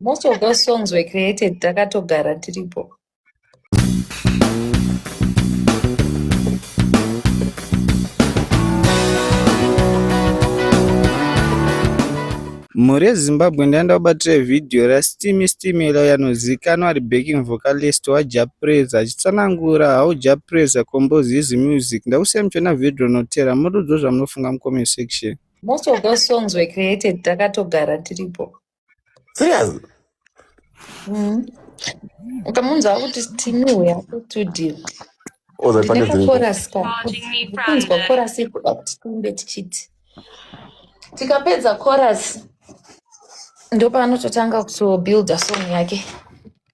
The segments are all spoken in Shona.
Most of those songs were created takatogara tiripo. Mhuri yeZimbabwe ndaenda kubatira vhidhiyo raSteamy Steamy iro yanozivikanwa ari backing vocalist waJah Prayzah achitsanangura how Jah Prayzah compose his music. Ndakusiya muchiona vhidhiyo rinotevera murudzo zvamunofunga mucomment section. Most of those songs were created takatogara tiripo. Serious. Mm. Ukamunzwa akuti Timi uya kustudio. Oza Ndine pande dzini. kakorasi ka. Charging me from Kunzwa the korasi kuda kuti tiimbe tichiti. Tikapedza korasi ndopaanototanga kutobuilda song yake.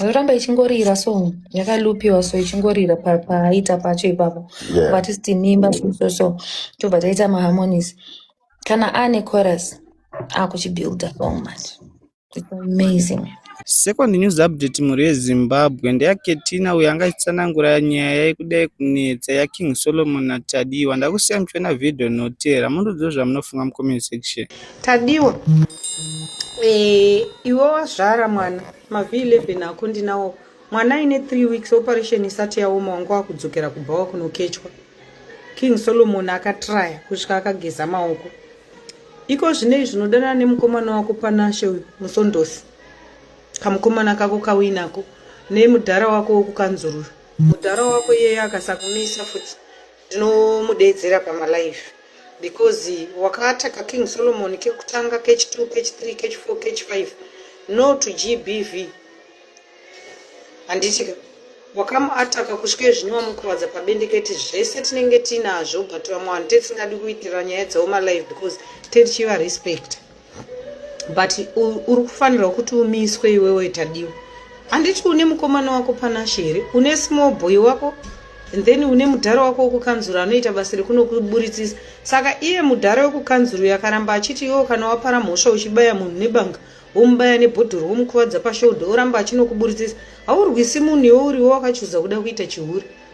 yoramba ichingorira so yakalupiwa so ichingorira pa- paaita pacho ipapo yeah vati stimimba so so so tobva taita maharmonies kana ane chorus akuchibuilda song manje its amazing Second news update mhuri yeZimbabwe ndeyaKetina uyo anga achitsanangura nyaya yaikudai kunetsa yaKing Solomon naTadiwa. Ndakusiya muchiona vhidhiyo inoteera mundiudzewo zvamunofunga mucomment section. Tadiwa eh, iwe wazvara mwana mavhi 11 ako ndinawo mwana aine 3 weeks operation isati yaoma wanga wakudzokera kubhawa kunokechwa king solomon akatraya kusvika akageza maoko iko zvinei zvinodanana nemukomana wako panashe uyu musondosi kamukomana kako kauinako nemudhara wako wokukanzururu mudhara wako iyeye akasakumisa futi Ndinomudeedzera pama live because wakata ka King Solomon kekutanga kechi 2 kechi 3 kechi 4 kechi 5 no to GBV handiti ka wakamuataka kusvika zvino wamukuvadza pabendeketi zvese tinenge tiinazvo but vamwe vanhu tetisingadi kuitira nyaya dzawo malive because tetichiva respect but uri kufanirwa kuti umiswe iwewe tadiwa handiti une mukomana wako panashe here une small boy wako and then une mudhara wako wekukanzuro anoita basa rekunokuburitsisa saka iye mudhara wekukanzuro uyo akaramba achiti iwo kana wapara mhosva uchibaya munhu nebanga womubaya nebhodhoro womukuvadza pashoulder oramba achinokuburitsisa haurwisi munhu iwe uriwo wakachuza kuda kuita chihure